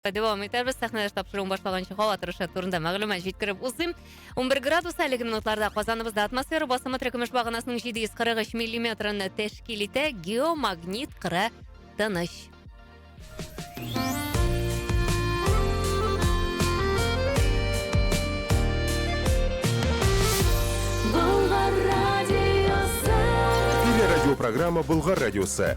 Дәвам итәрбез. Сәхнәдәш тапшыруын башлаганчы һава торышы турында мәгълүмат җиткереп узыйм. 11 градус әлеге минутларда Казаныбызда атмосфера басымы терекөмеш баганасының 743 миллиметрын тәшкил итә. Геомагнит кыры тыныч. Телерадиопрограмма Болгар радиосы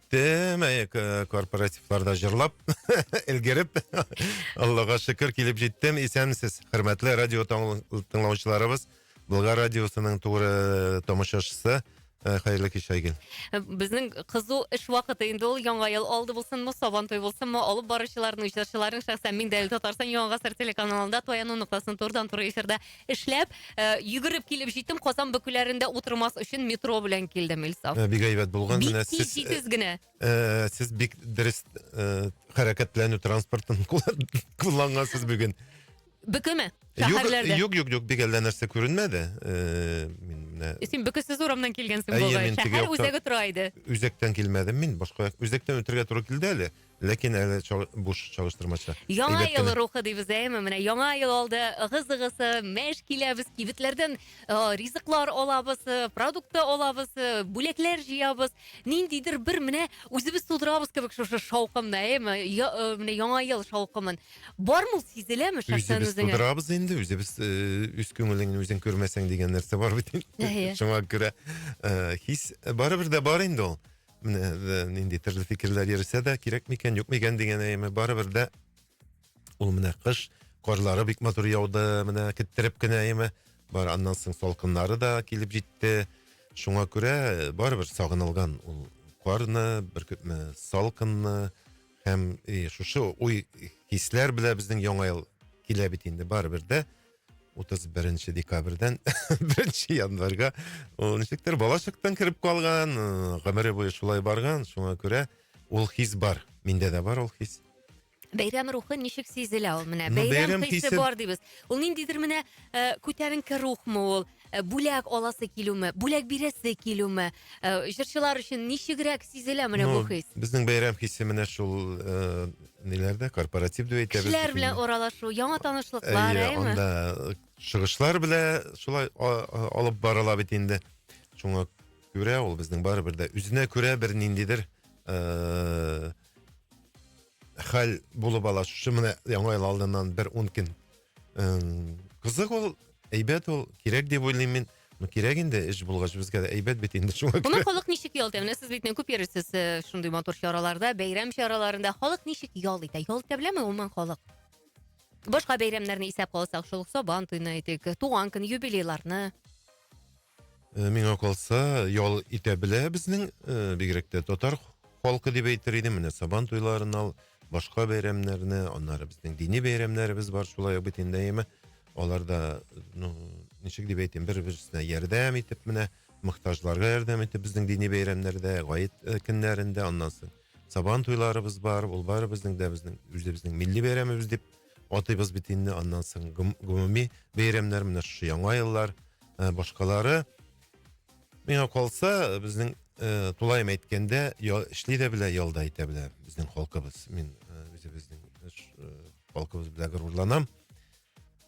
Демәк, э, корпоративларда җырлап, элгереп, Аллага шөкер килеп җиттем. Исәнмесез, хөрмәтле радио таңл- тыңлаучыларыбыз. Болгар радиосының туры э, тамашачысы. Э, Хәерле кич, Айгөл. Безнең кызу эш вакыты инде ул. Яңа ел алды булсынмы, сабан туй булсынмы, алып баручыларның, җырчыларның шәхсән мин дә әле Татарстан Яңа гасыр телеканалында Туяну ноктасын турыдан-туры эфирда Эшләп, йөгереп килеп җиттем, Казан бөкеләрендә утырмас өчен метро белән килдем, Илсаф. Э, бик әйбәт булган. Бик тиз, җитез э, генә. Э, сез бик дөрес хәрәкәтләнү транспортын куллангансыз бүген. Бөкеме? Шәһәрләрдә. Юк, юк, юк, бик әллә нәрсә күренмәде. Мин менә Син бөкесез урамнан килгәнсең бугай. Шәһәр үзәге тора иде. Үзәктән килмәдем мин, башка үзәктән үтергә туры килде әле. Ләкин әле чал, буш чалыштырмача. Яңа Әйбәт ел кенә. рухы дибез әйме. Менә яңа ел алды. Ыгы-зыгысы, мәш киләбез, кибетләрдән э, ризыклар алабыз, э, продукты алабыз, э, бүләкләр җыябыз. Ниндидер бер менә үзебез тудырабыз кебек шушы шаукымны, әйме? Я, э, менә яңа ел шаукымын. Бармы ул сизеләме шәхсән Үзебез үзеңә? тудырабыз инде, үзебез э, үз күңелеңне үзең күрмәсәң дигән нәрсә бар бит. Әйе. Шуңа күрә э, хис барыбер дә бар инде ул. менә э, нинди төрле фикерләр йөрсә дә кирәк микән юк микән дигән әйме барыбер дә ул менә кыш карлары бик матур яуды менә киттереп кенә әйме бар аннан соң салкыннары да килеп җитте шуңа күрә э, барыбер сагынылган ул карны бер салкынны һәм и, шушы уй хисләр белән безнең яңа ел килә бит инде барыбер дә 31 декабрьдән 1 январьга ул ничектер балачактан кереп калган, э, гомере буе шулай барган, шуңа күрә ул хис бар. Миндә дә бар ул хис. Бәйрәм рухы ничек сизелә ул менә? Ну, Бәйрәм бәйрәм хисе хисе- бар дибез. Ул ниндидер менә э, күтәренке рухмы ул? Э, бүләк аласы килүме, бүләк бирәсе килүме, э, җырчылар өчен ничегрәк сизелә менә бу хис? Безнең бәйрәм хисе менә шул э, ниләрдә, корпоратив дип әйтәбез. Кешеләр белән аралашу, яңа танышлыклар, әйе, анда чыгышлар белән шулай алып барыла бит инде. Шуңа күрә ул безнең барыбер дә үзенә күрә бер ниндидер хәл булып ала. Шушы менә яңа ел алдыннан бер ун көн кызык ул әйбәт ул кирәк дип уйлыйм мин ну кирәк инде эш булгач безгә дә әйбәт бит инде шуңа күрә моны халык ничек ял итә менә сез бит күп йөрисез э, шундый матур чараларда бәйрәм чараларында халык ничек ял итә ял итә беләме гомумән халык башка бәйрәмнәрне исәпкә алсак шул ук сабан туйны әйтик туган көн юбилейларны Э, миңа калса, ял итә белә безнең, э, бигрәк тә татар халкы дип әйтер идем. Менә Сабан туйларын ал, башка бәйрәмнәрне, аннары безнең дини бәйрәмнәребез бар, шулай ук бит инде әйеме. Алар да, ну, ничек дип әйтим, бер-берсенә ярдәм итеп менә, мохтаҗларга ярдәм итеп безнең дини бәйрәмнәрдә, гает э, көннәрендә, аннан соң Сабан туйларыбыз бар, ул бары безнең дә безнең үзебезнең милли бәйрәмебез дип Атыйбыз бит инде аннан соң гомуми бәйрәмнәр, менә шушы яңа еллар, ә, башкалары. Миңа калса, безнең ә, тулаем әйткәндә, я, эшли дә белә, ялда әйтә белә безнең халкыбыз. Мин ә, үзебезнең ә, халкыбыз белән горурланам.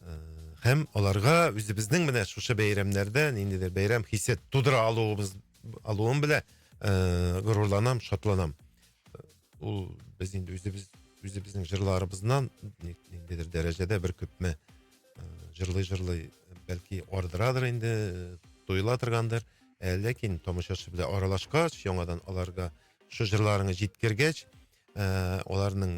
Ә, һәм аларга үзебезнең менә шушы бәйрәмнәрдә ниндидер бәйрәм хисе тудыра алуыбыз, алуым белән ә, горурланам, шатланам. Ул без инде үзебез үзебезнең җырларыбыздан ниндидер дәрәҗәдә бер күпме җырлый җырлый бәлки ардырадыр инде тоела торгандыр ә ләкин тамашачы белән аралашкач яңадан аларга шул җырларыңны җиткергәч ә, аларның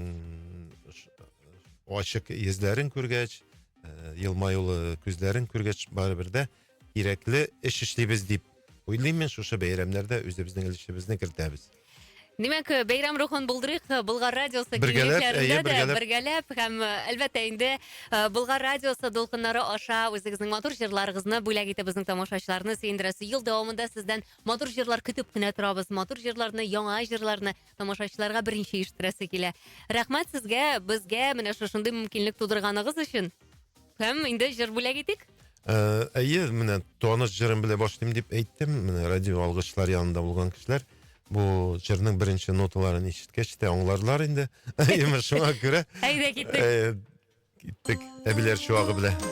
ачык йөзләрен күргәч ә, елмаюлы күзләрен күргәч барыбер дә кирәкле эш эшлибез дип уйлыйм мин шушы бәйрәмнәрдә үзебезнең өлешебезне кертәбез. Димәк, бәйрәм рухын булдырыйк Болгар радиосы киңлекләрендә дә бергәләп һәм әлбәттә инде Болгар радиосы дулкыннары аша үзегезнең матур җырларыгызны бүләк итеп безнең тамашачыларны сөендерәсе. Ел дәвамында сездән матур җырлар көтеп кенә торабыз. Матур җырларны, яңа җырларны тамашачыларга беренче ишеттерәсе килә. Рәхмәт сезгә, безгә менә шушындый мөмкинлек тудырганыгыз өчен. Һәм инде җыр бүләк итик. Э, әйе, менә таныш җырым белән башлыйм дип әйттем. Менә радио алгычлар янында булган кешеләр бу җырның беренче ноталарын ишеткәч тә аңларлар инде. Әйеме шуңа күрә. Әйдә киттек. Э, киттек. Әбиләр чуагы белән.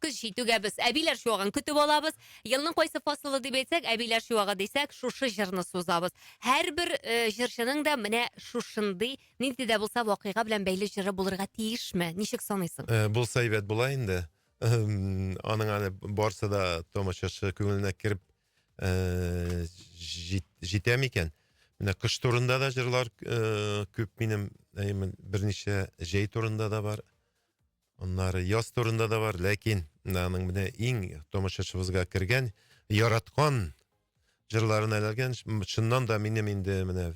Көз җитүгә без әбиләр чуагын көтеп алабыз. Елның кайсы фасылы дип әйтсәк, әбиләр чуагы дисәк, шушы җырны сузабыз. Һәрбер э, җырчының да менә шушындый нинди дә булса вакыйга белән бәйле җыры булырга тиешме? Ничек саныйсың? Э, булса әйбәт була инде. Эм, Аның әле барсы да тамашачы күңеленә кереп э, җит- җитә микән? Менә кыш турында да җырлар э, күп минем, әйе, мен- берничә җәй турында да бар. Аннары яз турында да бар, ләкин аның менә иң тамашачыбызга кергән, яраткан җырларын әләлгән, чыннан да минем инде менә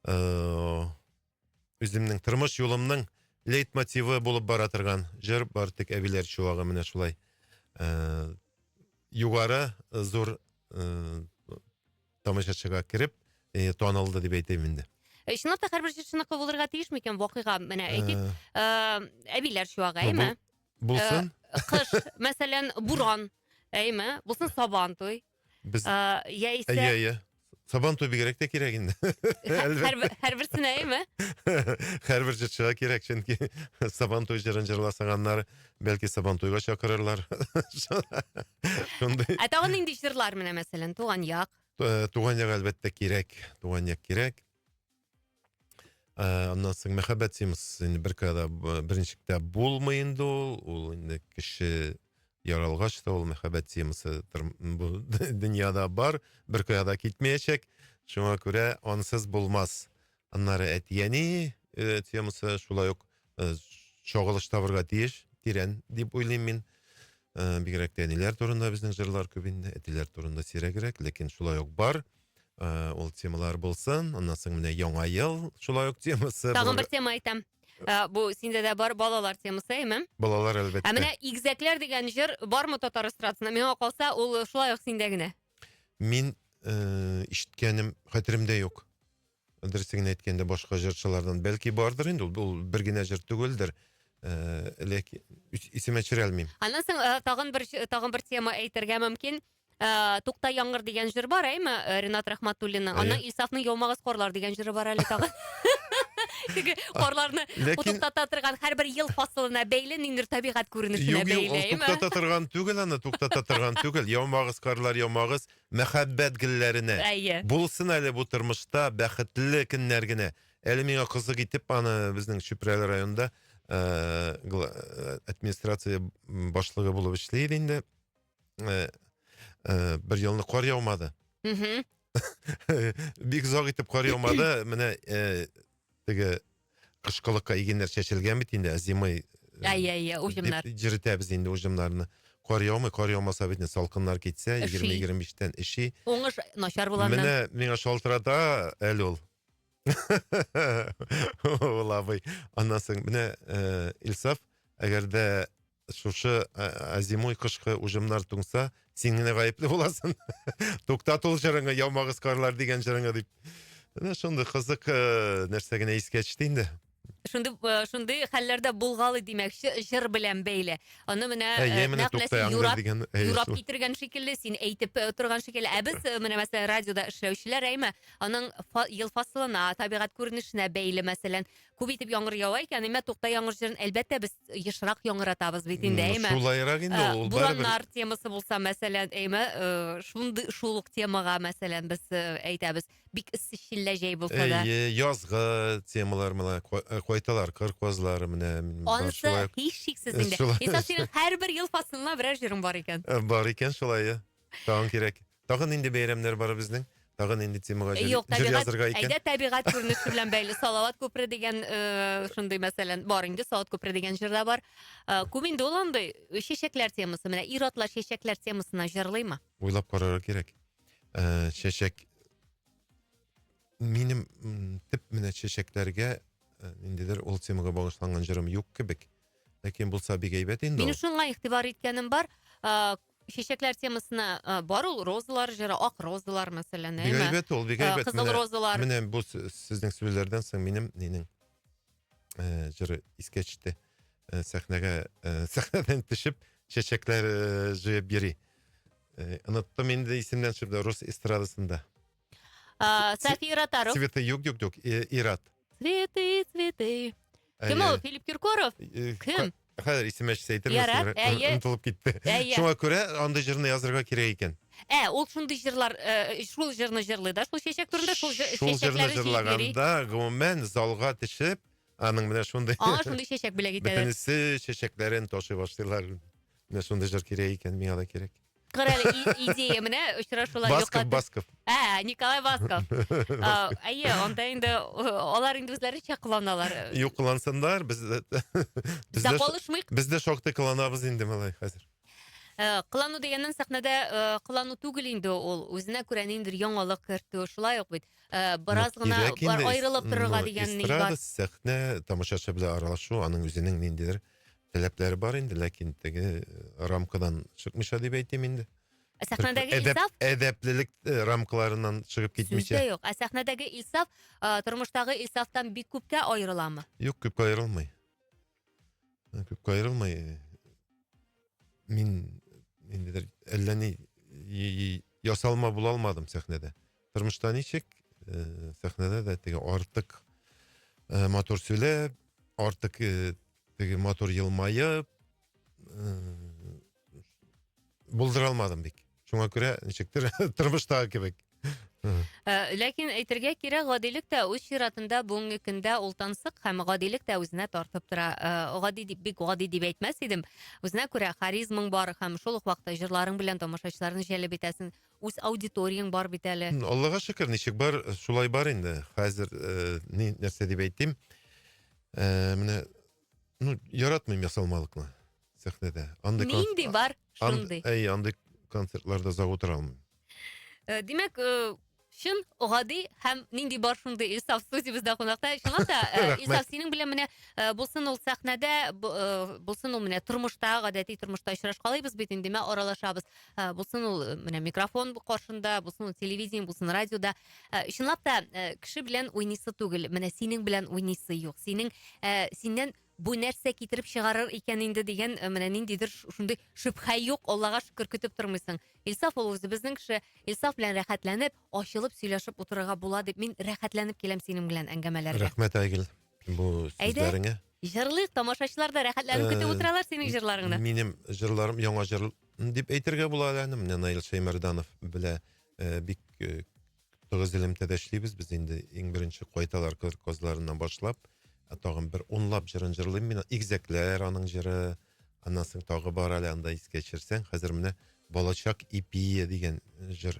э, үземнең тормыш юлымның лейт мотивы булып бара торган җыр бар тик әбиләр чуагы менә шулай э, югары зур э, тамашачыга кереп э, танылды дип әйтәм инде. Э, Чынлап та һәрбер җырчыныкы булырга тиеш микән вакыйга? Менә әйтик, Э, э, әбиләр чуагы, бу- әйме? Булсын. Э, Кыш, мәсәлән, буран, әйме? Булсын сабан туй. Без Э, Яисә Әйе, әйе. Сабан туй бигрәк тә кирәк инде. һә- Әлбәттә. һәрбер- һәрберсенә, әйме? Һәрбер җырчыга кирәк, чөнки Сабан туй җырын җырласаң, аннары Бәлки Сабантуйга чакырырлар. Шундый. Ә тагын нинди җырлар менә мәсәлән, туган як. Э, туган як әлбәттә кирәк. Туган як кирәк. Э, аннан соң мәхәббәт симс инде бер кадә э, беренчектә булмый инде ул. Ул инде кеше яралгач та ул мәхәббәт симсы бу дөньяда бар, бер кадә китмәячәк. Шуңа күрә ансыз булмас. Аннары әти-әни э, темасы шулай ук э, чагылыш табырга тиеш, тирән дип уйлыйм мин. Э, бигрәк тә әниләр турында безнең җырлар күп инде, әтиләр турында сирәгрәк, ләкин шулай ук бар. Э, ул темалар булсын. Аннан соң менә яңа ел шулай ук темасы. Тагын бер тема әйтәм. Ә, бу синдә дә бар балалар темасы, әйме? Балалар әлбәттә. Ә менә игзәкләр дигән җыр бармы татар эстрадасында? Миңа калса, ул шулай ук синдә генә. Мин э, ишеткәнем хәтеремдә юк. дөресен генә әйткәндә башка җырчылардан бәлки бардыр инде ул, ул бер генә җыр түгелдер. Э, ләкин исемә төшерә алмыйм. Аннан соң э, тагын бер тагын бер тема әйтергә мөмкин. Э, Тукта яңгыр дигән җыр бар, әйме? Ренат Рахматуллинның. Аннан Ильсафның Яумагыз корлар дигән җыры бар әле тагын. Теге корларны утыктата торган һәрбер ел фасылына бәйле ниндер табигать күренешенә бәйле. Юк, юк, ул туктата торган түгел аны, туктата торган түгел. Яумагыз, карлар, яумагыз. Мәхәббәт гелләренә. Әйе. Булсын әле бу тормышта бәхетле көннәр генә. Әле миңа кызык итеп аны безнең Чүпрәле районында э, э, администрация башлыгы булып эшли иде инде. Э, бер елны кар яумады. Бик озак итеп кар яумады. Менә теге кышкылыкка игеннәр чәчелгән бит инде, ә зимой ә, ә, ә, уҗымнар. дип җиретәбез инде уҗымнарны. Кар яумый, кар яумаса бит салкыннар китсә, 20-25-тән эши. Уңыш начар булганнан. Менә миңа шалтырата әле ул. Ул абый. Аннан соң менә э, Илсаф, әгәр дә шушы азимуй кышкы уҗымнар туңса, син генә гаепле буласың. Туктат ул җырыңны, яумагыз карлар дигән җырыңны дип. Менә шундый кызык э, нәрсә генә искә төште инде. Шундый э, шундый хәлләрдә булгалый димәкче, җыр белән бәйле. Аны менә Ә, э, я менә нәкъ менә туктаям син юрап, дигән, э, юрап шул. китергән шикелле, син әйтеп э, торган шикелле. Ә без э, менә мәсәлән радиода эшләүчеләр, әйме, аның фа- ел фасылына, табигать күренешенә бәйле, мәсәлән, күп итеп яңгыр ява икән, имә тукта яңгыр җырын әлбәттә без ешрак яңгыратабыз бит инде, әйме. Шулайрак инде ул. Бураннар темасы булса, мәсәлән, әйме, шундый шул ук темага, мәсәлән, без әйтәбез. Бик эссе челлә җәй булса да. Әйе, язгы темалар менә кайталар, кыр казлары менә. Анысы һичшиксез инде. Исәп синең һәрбер ел фасылына берәр җырың бар икән. Бар икән шулай. Тагын кирәк. Тагы нинди бәйрәмнәр бар безнең? Тагы нинди темага җыр, Юк, җыр табигать, язырга икән? әйдә табигать күренеше белән бәйле. Салават күпере дигән э, шундый мәсәлән бар инде, Салават күпере дигән җыр да бар. Э, Күп инде ул андый э, чәчәкләр темасы. Менә ир-атлар чәчәкләр темасына җырлыймы? Уйлап карарга кирәк. Э, чәчәк минем м, төп менә чәчәкләргә э, ниндидер ул темага багышланган җырым юк кебек. Ләкин булса бик әйбәт инде. Минем ул. шуңа игътибар иткәнем бар. Э, чәчәкләр темасына э, бар ул розалар җыры, ак розалар мәсәлән, Бик әйме? әйбәт ул, бик Э, әйбәт. Кызыл Менә- розалар. Менә бу с- сезнең сүзләрдән соң минем нинең э, җыры искә төште. Э, Сәхнәгә э, сәхнәдән төшеп чәчәкләр э, җыеп йөри. Э, Оныттым инде исемнән чыгып рус эстрадасында. А, София Ротару. Цветы, юк, юк, юк, Ират. Цветы, цветы. Кем ол, Филипп Киркоров? Кем? Хәзер исемә төшсә әйтермесең, онытылып китте. Шуңа күрә андый җырны язырга кирәк икән. Ә, ул шундый җырлар, э, шул җырны җырлый да, шул чәчәк турында, шул чәчәкләре Шул җырны җырлаганда, гомумән, залга төшеп, аның менә шундый... Аңа шундый чәчәк бүләк итәләр. Бөтенесе чәчәкләрен ташый башлыйлар. Менә шундый җыр кирәк икән, миңа да кирәк. Кара идея менә очрашулар Басков, Басков. Ә, Николай Басков. Әйе, анда инде алар инде үзләренчә кыланалар. Юк, кылансыннар, без без дә калышмыйк. Без дә шактый кыланабыз инде малай хәзер. Э, кылану дигәннән сәхнәдә э, кылану түгел инде ул үзенә күрә ниндидер яңалык кертү шулай ук бит э, бераз гына аерылып торырга дигән ни бар эстрада сәхнә тамашачы белән аралашу аның үзенең ниндидер Теләкләре бар инде, ләкин теге э, рамкадан чыкмыйча дип әйтим инде. Ә сәхнәдәге Әдәп, Илсаф әдәплелек э, рамкаларыннан чыгып сүз дә китмичә. юк. Ә сәхнәдәге Илсаф а, тормыштагы Илсафтан бик күпкә аерыламы? Юк, күпкә аерылмый. Э, Күпкә аерылмый. Мин инде әллә ни и- и- ясалма була алмадым сәхнәдә. Тормышта ничек? Э, сәхнәдә дә теге артык э, матур сөйләп, артык э, теге матур елмаеп, булдыра алмадым бик. Шуңа күрә ничектер тормыштагы кебек. Э, ләкин әйтергә кирәк, гадилек тә үз чиратында бүгенге көндә ул тансык һәм гадилек тә үзенә тартып тора. Э, гади дип бик гади дип әйтмәс идем. Үзенә күрә харизмаң бар һәм шул ук вакытта җырларың белән тамашачыларны җәлеп итәсең. Үз аудиторияң бар бит әле. Аллага шөкер, ничек бар, шулай бар инде. Хәзер ни нәрсә дип әйтим? Менә ну яратмыйм ясалмалыкны сәхнәдә. Андый Нинди бар, шундый. Әй, андый концертларда озак утыра алмыйм. Димәк, чын гади һәм нинди бар шундый Илсаф студиябездә кунакта. Чынлап та, Илсаф, синең белән менә булсын ул сәхнәдә, булсын ул менә тормышта, гадәти тормышта очрашкалыйбыз бит инде, аралашабыз. ә, булсын ул э, менә микрофон каршында, булсын ул телевидение, булсын радиода. Ә, э, чынлап та э, кеше белән уйныйсы түгел, менә синең белән уйныйсы юк. Синең ә, синнән бу нәрсә китереп чыгарыр икән инде дигән менә ниндидер шундый шөбһә юк, Аллага шөкер көтеп тормыйсың. Илсаф ул үзебезнең кеше, Илсаф белән рәхәтләнеп, ачылып сөйләшеп утырырга була дип мин рәхәтләнеп киләм синең белән әңгәмәләргә. Рәхмәт, Айгел, бу сүзләреңә. Җырлыйк, тамашачылар да рәхәтләнеп көтеп э, утыралар синең җырларыңны. Минем җырларым яңа җыр дип әйтергә була әле аны. Менә Наил Шәймәрданов белә э, бик э, тыгыз элемтәдә эшлибез. Без инде иң беренче кайталар кыр козларыннан башлап, ә тагын бер унлап җырын җырлыйм мин. Игзәкләр аның җыры, аннан соң тагы бар әле анда искә төшерсәң. Хәзер менә Балачак ипие дигән җыр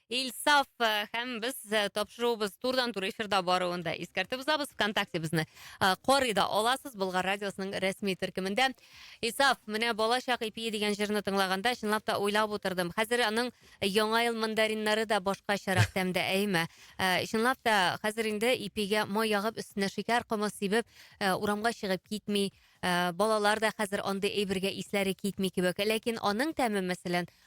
Илсаф э, һәм без э, тапшыруыбыз турдан тур эфирда баруын да искәртеп узабыз. ВКонтакте безне э, карый да аласыз. Болгар радиосының рәсми төркемендә. Илсаф, менә балачак ипие дигән җырны тыңлаганда, чынлап та уйлап утырдым. Хәзер аның яңа ел мандариннары да башкачарак тәмдә, әйме? Э, Чынлап та хәзер инде ипигә май ягып, өстенә шикәр комы сибеп, э, урамга чыгып китми. Э, Балалар да хәзер андый әйбергә исләре китми кебек. Ләкин аның тәме, мәсәлән,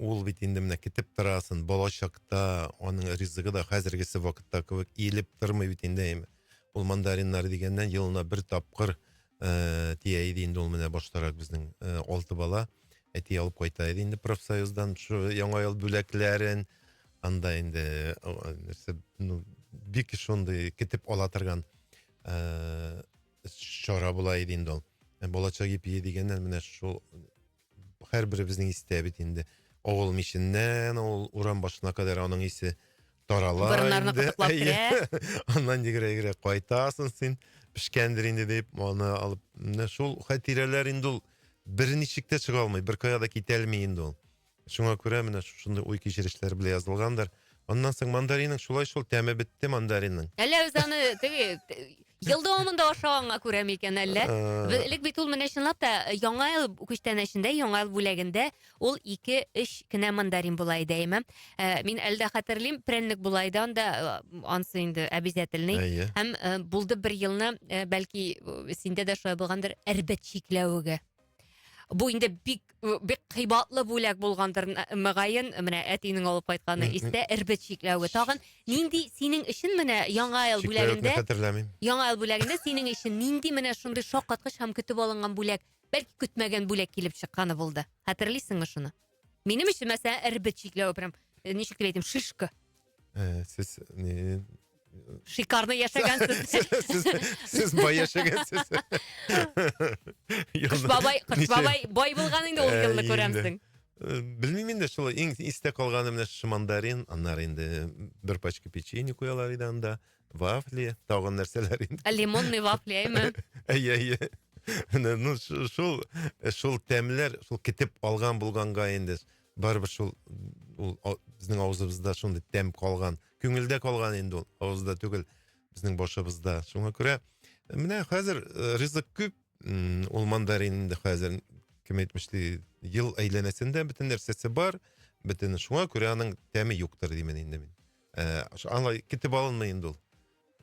ул бит инде менә көтеп торасын балачакта аның ризыгы да хәзергесе вакытта кебек иелеп тормый бит инде ул мандариннар дигәннән елына бер тапкыр ыыы тия иде инде ул менә баштарак безнең ы алты бала әти алып кайта иде инде профсоюздан яңа ел бүләкләрен анда инде нәрсе ну бик шундый көтеп ала торган ыыы чара була иде инде ул балачак ипие дегеннән менә шул һәрберебезнең истә бит инде. Авыл миченнән ул урам башына кадәр аның исе тарала Борыннарны инде. кытыклап Әйе. керә. Аннан йөгерә-йөгерә кайтасың син, пешкәндер инде дип, аны алып. Менә шул хатирәләр инде ул берничек тә чыга алмый, беркая да китә алмый инде ул. Шуңа күрә менә шушындый уй-кичерешләр белән язылгандыр. Аннан соң мандаринның шулай шул тәме бетте мандаринның. Әллә үз аны теге ел дәвамында ашаганга күрә микән әллә? Э. Элек бит ул менә чынлап та э, яңа ел күчтәнәчендә, яңа ел бүләгендә ул 2-3 кенә мандарин була иде әйме. Э, мин әле дә хәтерлим, прәннек була иде анда, ансы инде обязательный. Һәм булды бер елны, бәлки синдә дә шулай булгандыр, әрбәт чикләвеге. Бу инде бик бик кыйбатлы бүләк булгандыр мөгаен, менә әтинең алып кайтканы истә эрбет чикләве. Тагын нинди синең өчен менә яңа ел бүләгендә Яңа ел бүләгендә синең өчен нинди менә шундый шаккаткыч һәм көтеп алынган бүләк, бәлки көтмәгән бүләк килеп чыкканы булды. Хәтерлисеңме шуны? Минем өчен мәсәлән эрбет чикләве прям э, ничек дип әйтим, шишка. Ә, сез не Шикарно яшәгәнсез. сез, сез бай яшәгәнсез. Кыш бабай, кыш бабай бай булган инде ул Ә, елны инде. күрәмсең. Э, Белмим инде шул иң истә калганы менә шушы мандарин, аннары инде бер пачка печенье куялар иде анда. Вафли, тагын нәрсәләр инде. Ә лимонный вафли, әйме? Әйе, әйе. Менә, ну, шу- шул, шул тәмләр, шул китеп алган булганга инде, барыбер шул, ул а- безнең авызыбызда шундый тәм калган. Күңелдә калган инде ул, авызда түгел, безнең башыбызда. Шуңа күрә, менә хәзер э, ризык күп, м, ул мандарин инде хәзер, кем әйтмешли, ел әйләнәсендә бөтен нәрсәсе бар, бөтен, шуңа күрә аның тәме юктыр, димен инде мин. Э, ошо аңлай китеп алынмый инде ул.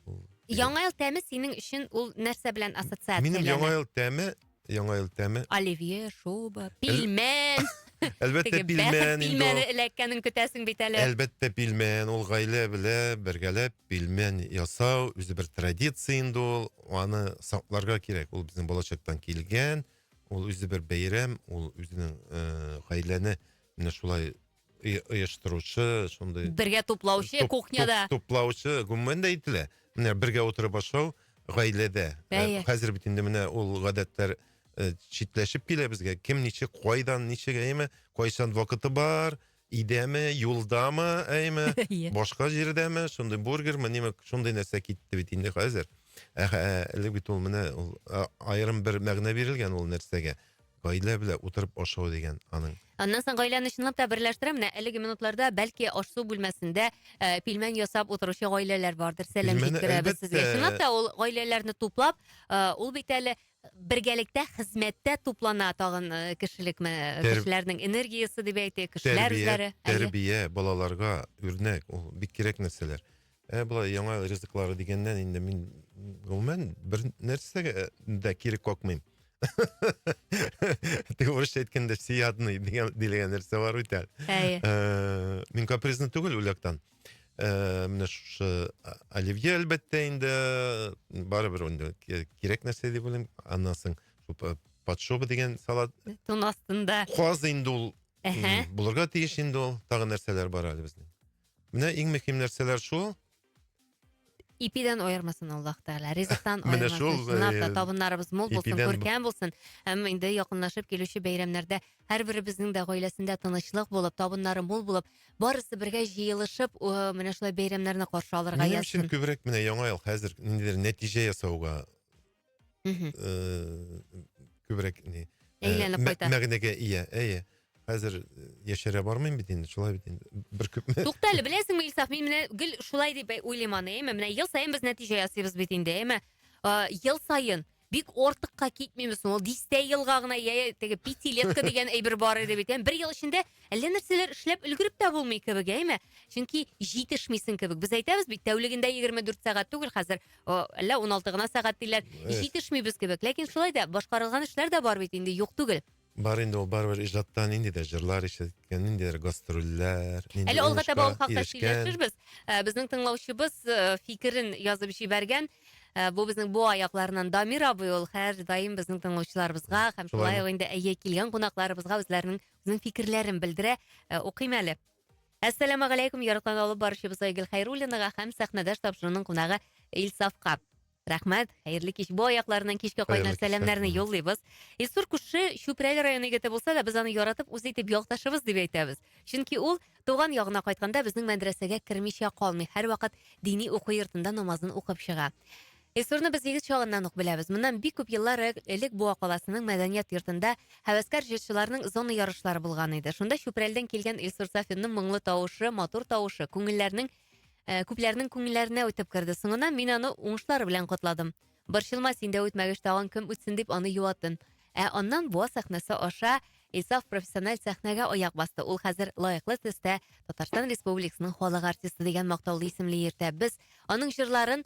Ул- Яңа ел тәме синең өчен ул нәрсә белән ассоциация? Минем яңа ел тәме, яңа ел тәме. Оливье, шуба, пилмән. Әлбәттә Теге пилмән бәхет инде. пилмәне ул. эләккәнен көтәсең бит әле. Әлбәттә пилмән, ул гаилә белә бергәләп пилмән ясау, үзе бер традиция инде ул, аны сакларга кирәк, ул безнең балачактан килгән, ул үзе бер бәйрәм, ул үзенең э, гаиләне менә шулай оештыручы шундый бергә туплаучы кухняда туплаучы гомумән дә әйтелә менә бергә утырып ашау гаиләдә ә, хәзер бит инде менә ул гадәтләр ә, читләшеп килә безгә кем ничек кайдан ничек әйме кайчан вакыты бар идәме юлдамы әйме иә. башка җирдәме шундый бургер міне шундый нәрсә китте бит инде хәзер ә, ә, элек бит ул менә ул айрым бер мәгънә бирелгән ул нәрсәгә Гаилә белән утырып ашау дигән аның. Аннан соң гаиләне чынлап та берләштерә. Менә әлеге минутларда бәлки аш-су бүлмәсендә э, пилмән ясап утыручы гаиләләр бардыр. Сәлам Пилмәне, җиткерәбез сезгә. әлбәттә. Чынлап та ул гаиләләрне туплап, э, ул бит әле бергәлектә хезмәттә туплана тагын э, кешелек мә- Тәр- кешеләрнең энергиясе дип әйтик, кешеләр Тәрбия, үзләре. Әйе. тәрбия, балаларга үрнәк, ул бик кирәк нәрсәләр. Ә болай яңа ризыклары дигәннән инде мин гомумән бер нәрсәгә э, дә кире какмыйм. Теге урысча әйткәндә сиядный дигән дигән нәрсә бар бит әле. Әйе. Э, Мин капризный түгел үләктән. Э, Менә шушы а- оливье әлбәттә инде барыбер инде ки- кирәк нәрсә дип уйлыйм. Аннан соң шул па- подшоба дигән салат Тун астында. Каз инде ул Әһә. м, булырга тиеш инде ул. Тагы нәрсәләр бар әле безнең. Менә иң мөһим нәрсәләр шул. Ипидән аермасын Аллаһ Тәгалә, ризыктан Менә шул, аермасын. Чынлап та э, табыннарыбыз мул булсын, ипидән бу- күркәм булсын. Һәм инде якынлашып килүче бәйрәмнәрдә һәрберебезнең дә гаиләсендә тынычлык булып, табыннары мул булып, барысы бергә җыелышып, э, менә шулай бәйрәмнәрне каршы алырга Минем өчен язсын. күбрәк менә яңа ел хәзер ниндидер нәтиҗә ясауга мхм э, күбрәк не э, Әйләнеп мә- кайта. мәгънәгә ия әйе хәзер э, яшәрә бармыйм бит инде шулай бит инде бер күп Тукта әле, беләсеңме, Илсаф, мин менә гел шулай дип әй- уйлыйм аны, әйме? Менә ел саен без нәтиҗә ясыйбыз бит инде, әйме? Э, Ел саен бик артыкка китмибез, ул дистә елга гына я теге пятилетка дигән әйбер бар иде бит. Ям, Бер ел эчендә әллә нәрсәләр эшләп өлгереп тә булмый кебек, әйме? Чөнки җитешмисең кебек. Без әйтәбез бит, тәүлегендә 24 сәгать түгел хәзер. әллә уналты гына сәгать диләр җитешмибез кебек ләкин шулай да башкарылган эшләр дә бар бит инде юк түгел бар инде ул барыбер иҗатта ниндидер җырлар ишеткән ниндидер гастрольләр әле алга таба ул хакта сөйләшербез ә, безнең тыңлаучыбыз ә, фикерен язып җибәргән ә, бу безнең буа якларыннан дамир абый ул һәрдаим безнең тыңлаучыларыбызга һәм шулай ук инде әйе килгән кунакларыбызга үзләренең үзенең фикерләрен белдерә ә, укыйм әле Әссәламә галәйкүм, яраткан алып баручыбыз Айгөл Хәйруллинага һәм сәхнәдәш тапшыруның кунагы Илсафка. Рәхмәт, хәерле кич. Бу аякларыннан кичкә кайнар сәламнәрне юллыйбыз. Илсур күрше Чүпрәле районы егете булса да, без аны яратып, үз итеп якташыбыз дип әйтәбез. Чөнки ул туган ягына кайтканда безнең мәдрәсәгә кермичә калмый, һәрвакыт дини уку йортында намазын укып чыга. Илсурны без егет чагыннан ук беләбез. Моннан бик күп еллар э, элек Буа каласының мәдәният йортында һәвәскәр җырчыларның зона ярышлары булган иде. Шунда Чүпрәлдән килгән Илсур Сафинның моңлы тавышы, матур тавышы күңелләрнең э, күпләрнең күңелләренә үтеп керде. Соңыннан мин аны уңышлар белән котладым. Борчылма, син дә үтмәгәч тагын кем үтсен дип аны юаттым. Ә аннан Буа сәхнәсе аша Исаф профессиональ сәхнәгә аяк басты. Ул хәзер лаеклы төстә Татарстан Республикасының халык артисты дигән мактаулы исемле йөртә. Без аның җырларын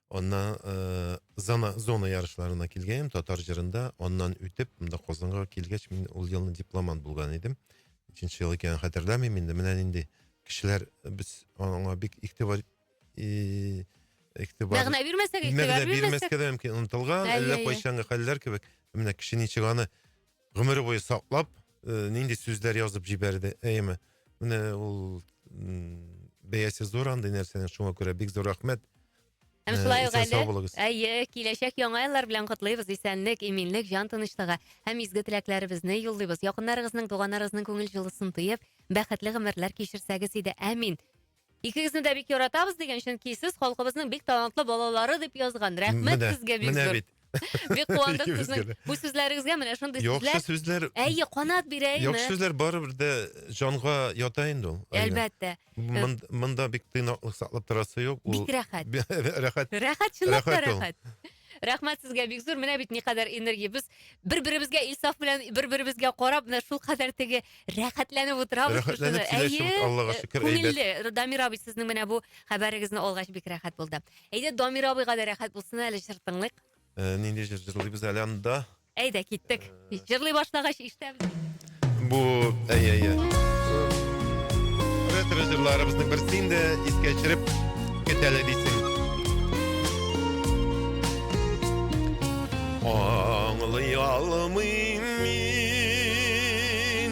Аннан э, зона, зона ярышларына килгәнем татар җырында. Аннан үтеп, монда Казанга килгәч, мин ул елны дипломант булган идем. Ниченче ел икәнен хәтерләмим инде. Менә нинди кешеләр без аңа бик игътибар и- игътибар Мәгънә бирмәсәк, игътибар мәгънә бирмәсәк. бирмәскә дә мөмкин, онытылган, Әллә әллә иә. кайчангы хәлләр кебек. Менә кеше ничек аны гомере буе саклап э, нинди сүзләр язып җибәрде әйеме менә ул бәясе зур андый нәрсәнең шуңа күрә бик зур рәхмәт Һәм э, шулай ук әле, әйе, киләчәк яңа еллар белән котлыйбыз, исәнлек, иминлек, җан тынычлыгы һәм изге теләкләребезне юллыйбыз. Якыннарыгызның, туганнарыгызның күңел җылысын тоеп, бәхетле гомерләр кичерсәгез иде. Әмин. Икегезне дә бик яратабыз дигән, чөнки сез халкыбызның бик талантлы балалары дип язган. Рәхмәт Менә, сезгә бик менә зур. бит. Бик куандык Икебезгә сезнең дә. бу сүзләрегезгә, менә шундый Яхшы сүзләр. сүзләр, Әйе, канат бирә яхшы име? сүзләр барыбер дә җанга ята инде ул. Алинә. Әлбәттә. Мон- Монда бик тыйнаклык саклап торасы юк. Ул Бик рәхәт. рәхәт. Рәхәт, чынлап та Рәхәт ул. рәхәт. Рәхмәт сезгә бик зур. Менә бит никадәр энергия. Без бер-беребезгә Илсаф белән бер-беребезгә карап, менә шул кадәр теге рәхәтләнеп утырабыз. Рәхәтләнеп сөйләшеп, Аллага шөкер, әйбәт. Күңелле. Дамир абый, сезнең менә бу хәбәрегезне алгач бик рәхәт булды. Әйдә, Дамир абыйга да рәхәт булсын әле, җыр тыңлыйк. Э, нинди җыр җырлыйбыз әле анда? Әйдә, киттек. Җырлый башлагач ишетәбез. Бу, әй, әй, әй. Ретро җырларыбызның берсе инде искә төшереп кетәле дисең. Аңлый алмыйм мин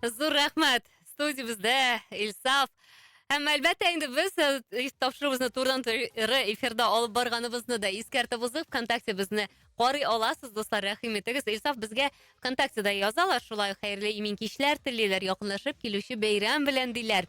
Зур рәхмәт! Студиябездә Илсаф. Һәм әлбәттә инде без э, тапшыруыбызны турыдан туры эфирда алып барганыбызны да искәртеп узып, ВКонтакте безне карый аласыз, дуслар, рәхим итегез. Илсаф безгә ВКонтактеда язалар, шулай ук хәерле имин кичләр телиләр, якынлашып килүче бәйрәм белән диләр.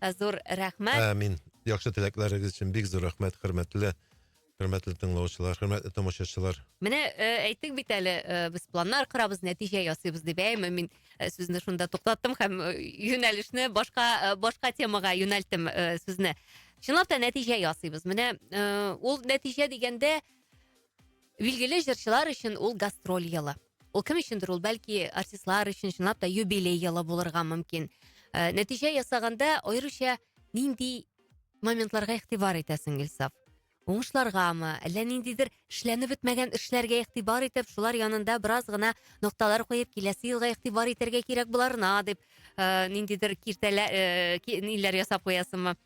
Э, зур рәхмәт. Амин. Яхшы теләкләрегез өчен бик зур рәхмәт, хөрмәтле хөрмәтле тыңлаучылар, хөрмәтле тамашачылар. Менә э, әйттек бит әле, э, без планнар корабыз, нәтиҗә ясыйбыз дип. Әйме, мин э, сүзне шунда туктаттым һәм э, юнәлешне башка э, башка темага юнәлттем э, сүзне. Чынлап та нәтиҗә ясыйбыз. Менә э, ул нәтиҗә дигәндә Билгеле җырчылар өчен ул гастроль елы. Ул кем өчендер ул бәлки артистлар өчен чынлап та юбилей елы булырга мөмкин. Ә, нәтиҗә ясаганда аеруча нинди моментларга игътибар итәсең, Илсаф? Уңышларгамы, әллә ниндидер эшләнеп бетмәгән эшләргә игътибар итеп, шулар янында бераз гына нокталар куеп, киләсе елга игътибар итәргә кирәк боларына дип, ә, ниндидер киртәлә, ә, ниләр ясап куясыңмы?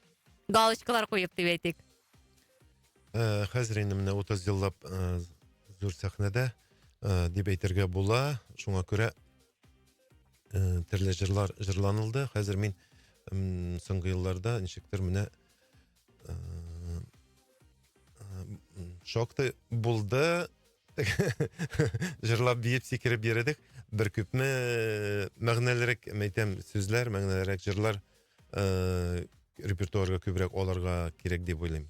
Галочкалар куеп дип әйтик. Э, хәзер инде менә 30 еллап э, зур сәхнәдә э, дип әйтергә була. Шуңа күрә э, төрле җырлар җырланылды. Хәзер мин м, соңгы елларда ничектер менә э, э, шактый булды. Җырлап биеп сикереп йөрдек. Бер күпме э, мәгънәлерәк, мәйтәм, сүзләр, мәгънәлерәк җырлар Э, репертуарга күбрәк аларга кирәк дип уйлыйм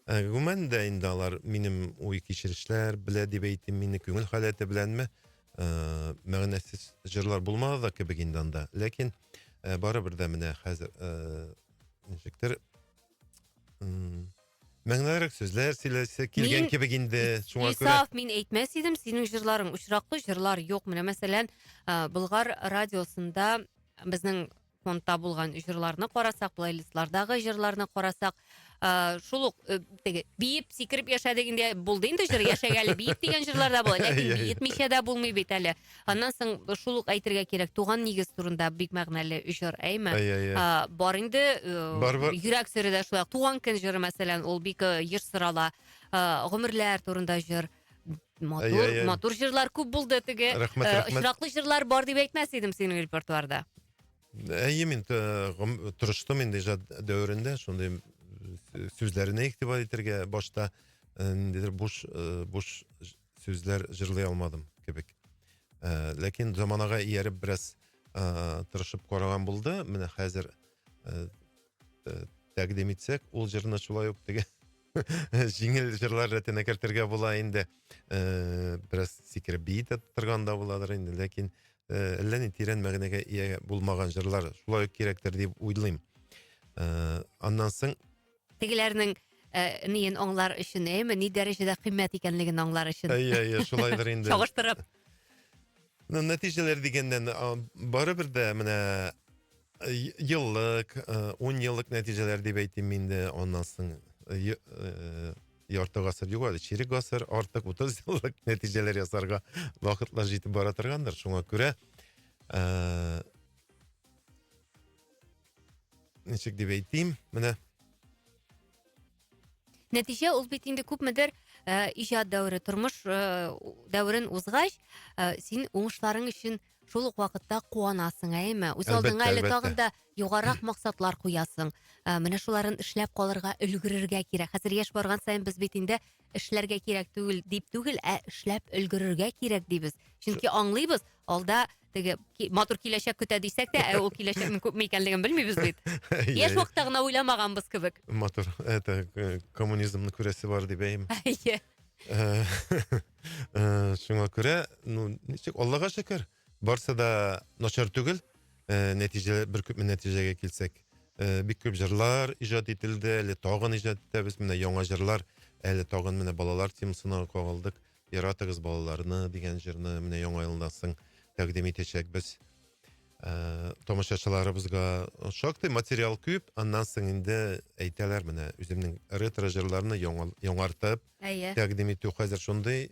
э, гомумән дә инде алар минем уй кичерешләр белә дип әйтим мине күңел халәте беләнме э, мәгънәсез җырлар булмады да кебек инде анда ләкин э, барыбер дә менә хәзер э, ничектер мәңгелерек сүзләр сөйләсе килгән мин, кебек инде шуңа күрә Исаф мин әйтмәс идем синең җырларың очраклы җырлар юк менә мәсәлән ә, Болгар радиосында безнең фондта булган җырларны карасак, плейлистлардагы җырларны карасак, ә, шул ук э, теге биеп сикереп яшәдек инде булды инде җыр яшәгә әле биеп дигән җырлар да була, ләкин Иә, иә. биетмичә дә булмый бит әле. Аннан соң шул ук әйтергә кирәк, туган нигез турында бик мәгънәле җыр, әйме? Иә, иә. А, бар инде э, Бар, бар. йөрәк сөре дә шулай. Туган көн җыры мәсәлән, ул бик э, еш сорала. А, гомерләр турында җыр. Матур, әй, әй, әй. матур җырлар күп булды теге. Рәхмәт, э, рәхмәт. Очраклы җырлар бар дип әйтмәс идем синең репертуарда. Әйе, мин э, гом- тырыштым инде иҗат дәверендә шундый э, сүзләренә игътибар итәргә. Башта э, ниндидер буш э, буш ж- сүзләр җырлый алмадым кебек. Э, Ләкин заманага ияреп бераз э, тырышып караган булды. Менә хәзер э, э, тәкъдим итсәк, ул җырны шулай ук теге Җиңел җырлар рәтенә кертергә була инде. Э, бераз сикереп бии дә торган да буладыр инде, ләкин э, әллә ни тирән мәгънәгә ия булмаган җырлар шулай ук кирәктер дип уйлыйм. Э, аннан соң Тегеләрнең э, ниен аңлар өчен, әйеме, ни дәрәҗәдә кыйммәт икәнлеген аңлар өчен. әйе, әйе, шулайдыр инде. Чагыштырып. Ну, нәтиҗәләр дигәндән, а, барыбер дә менә е- еллык, э, ун еллык нәтиҗәләр дип әйтим мин дә, аннан соң е- э, ярты гасыр юк әле, чирек гасыр, артык утыз еллык нәтиҗәләр ясарга вакытлар җитеп бара торгандыр, шуңа күрә, э, ничек дип әйтим, менә, Нәтиҗә ул бит инде күпмедер ә, иҗат дәвере, тормыш ә, дәверен узгач, ә, син уңышларың өчен шул ук вакытта куанасың, әйеме? Үз алдыңа әле тагын да югарырак максатлар куясың. Ә, менә шуларын эшләп калырга, өлгерергә кирәк. Хәзер яшь барган саен без бит инде эшләргә кирәк түгел дип түгел, ә эшләп өлгерергә кирәк дибез. Чөнки аңлыйбыз, алда теге матур киләчәк көтә дисәк тә, ә ул киләчәкнең күпме икәнлеген белмибез бит. Яшь вакытта гына уйламаганбыз кебек. Матур, это э, коммунизмны күрәсе бар дип әйм. Әйе. Э, э, шуңа күрә, ну, ничек, Аллага шөкер, барсы да начар түгел. Нәтиҗә бер күпме нәтиҗәгә килсәк, бик күп җырлар иҗат ителде, әле тагын иҗат итәбез. Менә яңа җырлар, әле тагын менә балалар темасына кагылдык. Яратыгыз балаларны дигән җырны менә яңа елда соң тәкъдим итәчәкбез. Ә, тамашачыларыбызга шактый материал күп, аннан соң инде әйтәләр менә үземнең ретро җырларны яңа, яңартып Әйе. тәкъдим итү хәзер шундый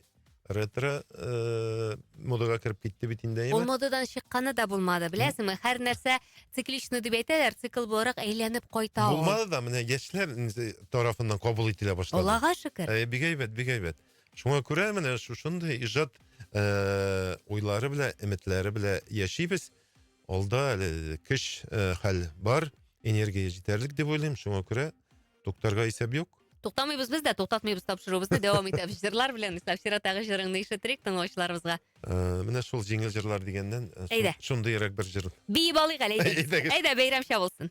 ретро э, модага кереп китте бит инде. Ул модадан чыкканы да булмады, беләсеңме? Һәр нәрсә цикличный дип әйтәләр, цикл буларак әйләнеп кайта ул. Булмады да менә яшьләр тарафыннан кабул ителә башлады. Аллага шөкер. Ә, бик әйбәт, бик әйбәт. Шуңа күрә менә шушындый иҗат э, уйлары белән, өметләре белән яшибез. Алда әле көч э, хәл бар, энергия җитәрлек дип уйлыйм. Шуңа күрә туктарга исәп юк. Туктамыйбыз без дә, туктатмыйбыз тапшыруыбызны, дәвам итәбез. Җырлар белән Сафира тагы җырыңны ишетерик тыңлаучыларыбызга. Э, менә шул җиңел җырлар дигәннән э, шун- Әйдә. шундыйрак бер җыр. Биеп алыйк әле, әйдәгез. Әйдәгез. Әйдә, бәйрәмчә булсын.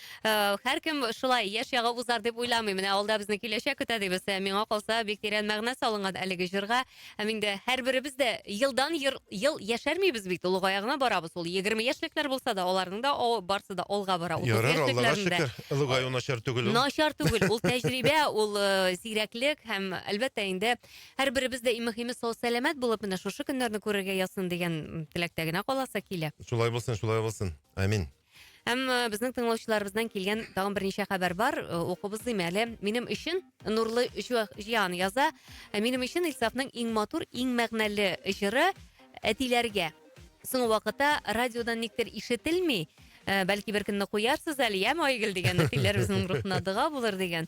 Һәркем шулай, яшь ягы узар дип уйламый. Менә алда безне киләчәк көтә дибез. Миңа калса, бик тирән мәгънә салынган әлеге җырга. Һәм инде һәрберебез дә елдан ел яшәрмибез бит, олыгая гына барабыз. Ул егерме яшьлекләр булса да, аларның да барсы да алга бара. Утыз яшьлекләрендә. Ярар, Аллага шөкер, олыгаю начар түгел ул. Начар түгел, ул тәҗрибә, ул зирәклек һәм, әлбәттә инде, һәрберебез дә, иң мөхиме, сау-сәламәт булып, менә шушы көннәрне күрергә язсын дигән теләктә генә каласы килә. Шулай булсын, шулай булсын. Амин. Һәм э, безнең тыңлаучыларыбыздан килгән тагын берничә хәбәр бар. Э, Укып узыйм әле. Минем өчен Нурлы Җу- Җиан яза. «Ә Минем өчен Илсафның иң матур, иң мәгънәле җыры әтиләргә. Соңгы вакытта радиодан никтер ишетелми. Ә, Бәлки бер көнне куярсыз әле, яме Айгөл дигән әтиләребезнең рухына дога булыр дигән.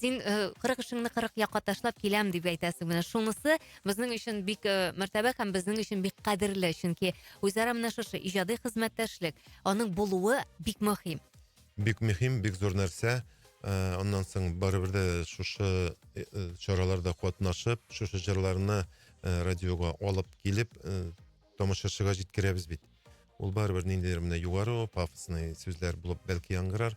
син э, кырык эшеңне кырык якка ташлап киләм дип әйтәсең менә шунысы безнең өчен бик э, мәртәбә һәм безнең өчен бик кадерле чөнки үзара менә шушы иҗади хезмәттәшлек аның булуы бик мөһим бик мөһим бик зур нәрсә э, аннан соң барыбер дә шушы чараларда катнашып шушы җырларны радиога алып килеп тамашачыга җиткерәбез бит ул барыбер ниндидер менә югары пафосный сүзләр булып бәлки яңгырар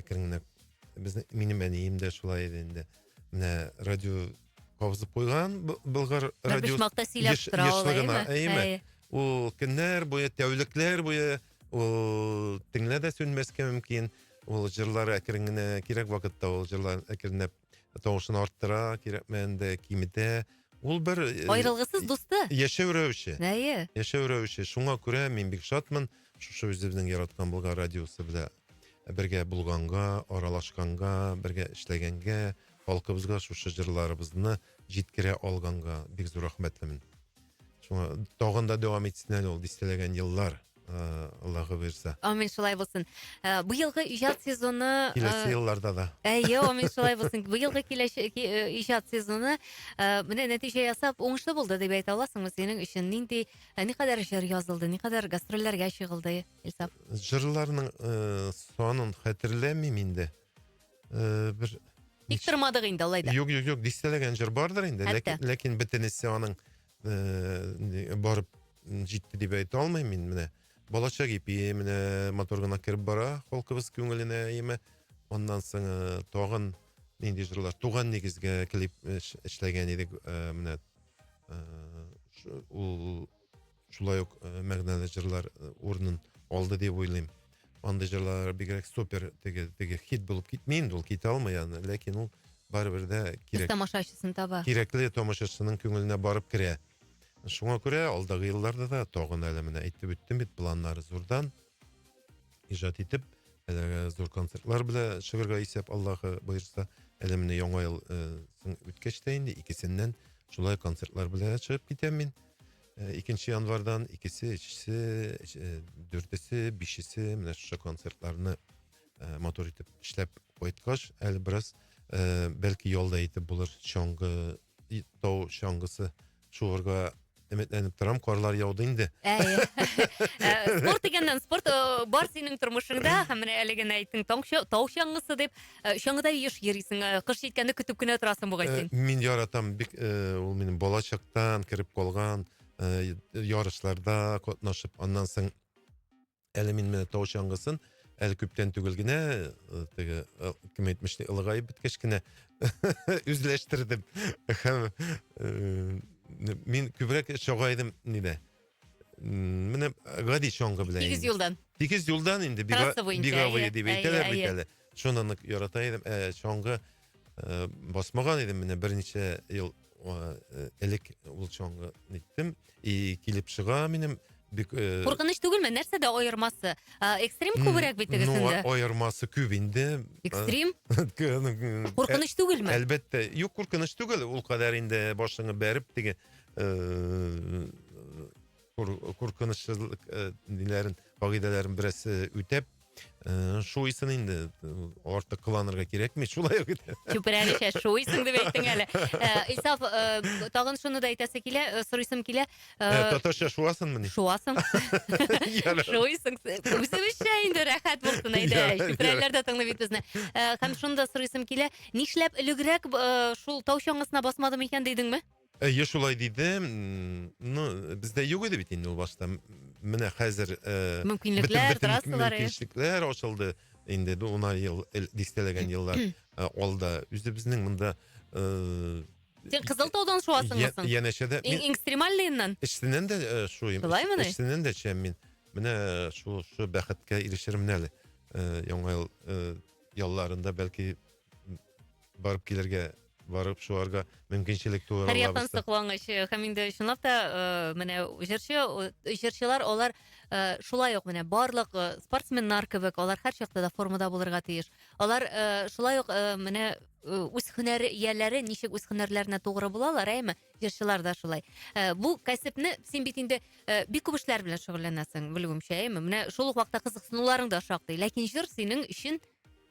әкрен генә безнең минем әнием дә шулай иде инде менә радио кабызып куйган болгар радио ул көннәр буе тәүлекләр буе ул теңлә дә сүнмәскә мөмкин ул җырлар әкрен генә кирәк вакытта ул җырлар әкренләп тавышын арттыра, кирәкмәгәндә киметә. Ул бер э, Аерылгысыз дусты. Яшәү рәвеше. Әйе. Яшәү рәвеше. Шуңа күрә мин бик шатмын шушы үзебезнең яраткан Болгар радиосы белән бергә булганга, аралашканга, бергә эшләгәнгә, халкыбызга шушы җырларыбызны җиткерә алганга бик зур рәхмәтлемен. шуңа тагын да дәвам итсен әле ул дистәләгән еллар э, аллаһы бирса Амин, шулай булсын. Э, Быелгы иҗат сезоны... э, киләсе елларда да Әйе, амин, шулай булсын. Быелгы киләче- ки- э, иҗат сезоны э, менә нәтиҗә ясап, уңышлы булды дип әйтә аласыңмы синең өчен? Нинди, э, никадәр җыр язылды, никадәр гастрольләргә чыгылды, Илсаф? жырларның э, санын хәтерләмим инде э, бер Тик тормадык инде алай да. Юк, юк, юк, дистәләгән җыр бардыр инде, ләкин, ләкин бөтенесе аның э, барып җитте дип әйтә алмыйм мин менә. Балачак ипи менә мотор гына кереп бара халкыбыз күңеленә яме. Аннан соң э, тагын нинди җырлар? Туган нигезгә клип э, эшләгән идек э, менә. Э, ул шулай ук э, мәгънәле җырлар э, урынын алды дип уйлыйм андый җырлар бигрәк супер теге теге хит булып китми инде ул китә алмый аны ләкин ул барыбер дә кирәк тамашачысын таба кирәкле тамашачысының күңеленә барып керә шуңа күрә алдагы елларда да тагын әле менә әйтеп үттем бит планнар зурдан ижат итеп әлеге зур концертлар белән чыгарга исәп аллаһы боерса әле менә яңа ел э, үткәч тә инде икесеннән шулай концертлар белән чыгып китәм мин Икенче январьдан икесе, өчесе, дүртесе, бишесе менә шушы концертларны э, матур итеп эшләп кайткач, әле бераз э, бәлки ялда итеп булыр чаңгы тау чаңгысы шуырга өметләнеп торам карлар яуды инде спорт дигәннән спорт бар синең тормышыңда һәм менә әле генә әйттең тау чаңгысы дип Э, Чаңгыда еш йөрисең, э, кыш җиткәнне көтеп кенә торасың бугай Э, син. Мин яратам бик э, ул минем балачактан кереп калган э, ярышларда катнашып аннан соң әле мин менә тау чаңгысын әле күптән түгел генә э, теге э, кем әйтмешли ылыгаеп беткәч кенә үзләштердем һәм э, мин күбрәк чага идем нидә Менә гади чаңгы белән. Тигез юлдан. Тигез юлдан инде беговые дип әйтәләр бит әле. Шуны нык ярата идем. Ә чаңгы э, басмаган идем менә берничә ел э, элек ул чаңгы иттем. И килеп чыга минем бик э, Куркыныч түгелме? Нәрсәдә аермасы? Экстрим күбрәк бит тегесендә. Ну, аермасы күп инде. Экстрим? Куркыныч түгелме? Әлбәттә. Юк, куркыныч түгел. Ул кадәр инде башыңны бәреп теге э, куркынычлылык э, ниләрен кагыйдәләрен берәрсе үтәп э, шуйсын инде артык кыланырга кирәкми шулай ук чүпрәгечә шуйсын дип әйттең әле исаф тагын шуны да әйтәсе килә сорыйсым килә татарча шуасыңмыни шуасың шуйсың үзебезчә инде рәхәт булсын әйдә чүпрәлеләр дә тыңлый бит безне һәм шуны да сорыйсым килә нишләп элегрәк шул тау чаңгысына басмадым икән дидеңме Әйе, шулай диде. Ну, бездә юк иде бит инде ул башта. Менә хәзер э, мөмкинлекләр, трассалар, мөмкинлекләр ачылды. Инде бу унар ел, дистәләгән еллар э, алда. Үзебезнең монда э, Сен кызыл таудан шуасыңмы соң? Янәшәдә. Иң экстремальныйыннан? Эчсеннән дә э, шуйм. Шулаймы ни? Эчсеннән дә чәм мин. Менә э, шу шу бәхеткә ирешермен әле. Э, яңа ел ялларында бәлки барып килергә барып шуарга мөмкинчелек туа Һәр яктан соклангыч э, һәм инде чынлап та э, менә җырчы э, җырчылар алар шулай ук менә барлык спортсменнар кебек алар һәр чакта да формада булырга тиеш. Алар шулай ук менә үз һөнәр ияләре ничек үз һөнәрләренә тугры булалар, әйме? Җырчылар да шулай. Бу кәсепне син бит инде бик күп эшләр белән шөгыльләнәсең, белүемчә, әйме? Менә шул ук вакытта кызыксынуларың да шактый, ләкин җыр синең өчен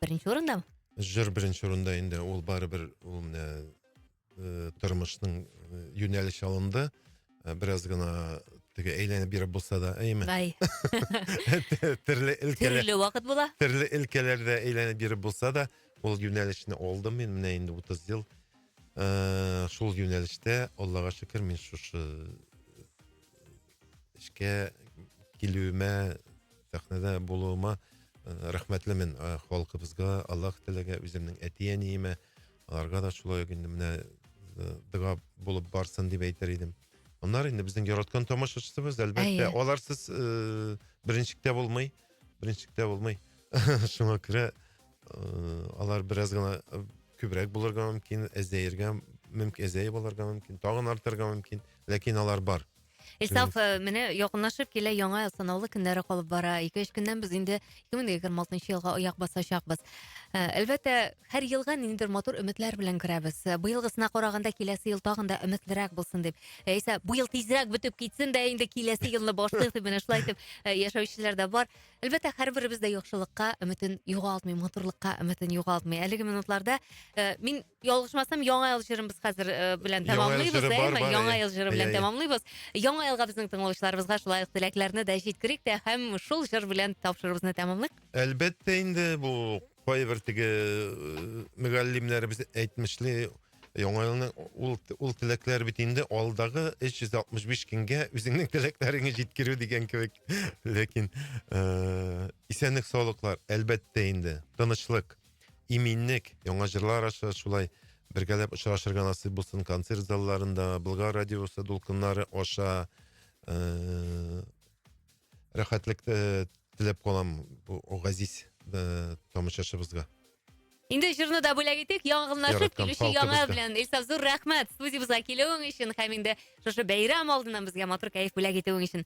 Беренче урында? Җыр беренче урында инде, ул барыбер ул менә э, тормышның э, юнәлеш алынды. Э, Бераз гына теге әйләнеп биреп булса да, әйме. Ай, Терле өлкәләр төрле вакыт була. төрле өлкәләрдә әйләнеп биреп булса да, ул юнәлешне алдым мин менә инде 30 ел. Э, Шул юнәлештә, Аллага шөкер, мин шушы эшкә килүемә сәхнәдә булуыма э, рәхмәтлемен э, халкыбызга аллаһ теләгә үземнең әти әниемә аларга да шулай инде менә э, дога булып барсын дип әйтер идем аннары инде безнең яраткан тамашачысыбыз әлбәттә аларсыз э, беренчектә булмый беренчектә булмый шуңа күрә э, алар бераз гына күбрәк булырга мөмкин әзәергә мөмкин әзәеп алырга мөмкин тагын артырга мөмкин ләкин алар бар Илсаф, э, менә якынлашып килә яңа сынаулы көннәре калып бара. Ике-өч көннән без инде 2026 елга аяк басачакбыз. Э, әлбәттә, һәр елга ниндидер матур өметләр белән керәбез. Э, быелгысына караганда киләсе ел тагын да өметлерәк булсын дип. Яисә бу ел тизрәк бетеп китсен дә инде киләсе елны башлыйк дип менә шулай итеп яшәүчеләр дә бар. Әлбәттә, һәрберебез дә яхшылыкка өметен югалтмый, матурлыкка өметен югалтмый. Әлеге минутларда мин Ялгышмасам, яңа ел җырыбыз хәзер э, белән Яңа ел тәмамлыйбыз, җыры бар, әйме? бар, Яңа әйе. ел җыры белән Әйе, әйе. тәмамлыйбыз. Яңа елга безнең тыңлаучыларыбызга шулай ук теләкләрне дә җиткерик тә һәм шул җыр белән тапшыруыбызны тәмамлыйк. Әлбәттә инде бу кайбер теге э, мөгаллимнәребез әйтмешли яңа елны ул ул теләкләр бит инде алдагы 365 көнгә үзеңнең теләкләреңне җиткерү дигән кебек. Ләкин э, исәнлек саулыклар әлбәттә инде тынычлык иминлек, яңа җырлар аша шулай бергәләп очрашырга насыйп булсын концерт залларында, Болгар радиосы дулкыннары аша э, рәхәтлек э, теләп калам бу газиз э, тамашачыбызга. Инде җырны да бүләк итик, янгынлашып килүче яңа белән. Илсаф зур рәхмәт студиябезгә килүең өчен һәм инде шушы бәйрәм алдыннан безгә матур кәеф бүләк итүең өчен.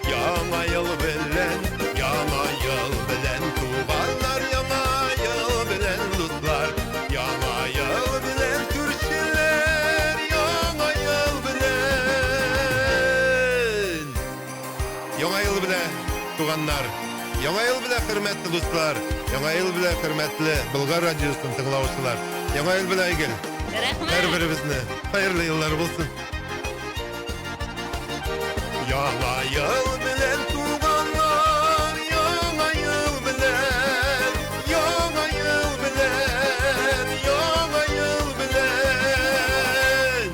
Яңа ел белән, яңа ел белән, туганнар, яңа ел белән, дуслар, яңа ел белән, күршеләр, яңа ел белән. Яңа ел белән, туганнар, яңа ел белән, хөрмәтле дуслар, яңа ел белән, хөрмәтле Болгар радиосын тыңлаучылар, яңа ел белән, Айгөл, Рәхмәт! һәрберебезне хәерле еллар булсын! Яңа ел белән туганнар, яңа ел белән, яңа ел белән, яңа ел белән.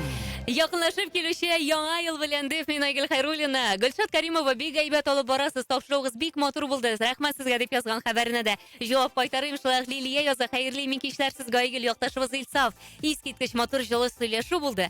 Якынлашып килүче яңа ел белән дип мин Айгөл Хайруллина. Гөлшат Каримова бик әйбәт алып барасыз. Тапшыруыгыз бик матур булды. Рәхмәт сезгә дип язган хәбәренә дә җавап кайтарыйм. Шулай ук Лилия яза. Хәерле имин кичләр сезгә Айгөл якташыбыз Илсаф. Искиткеч матур җылы сөйләшү булды.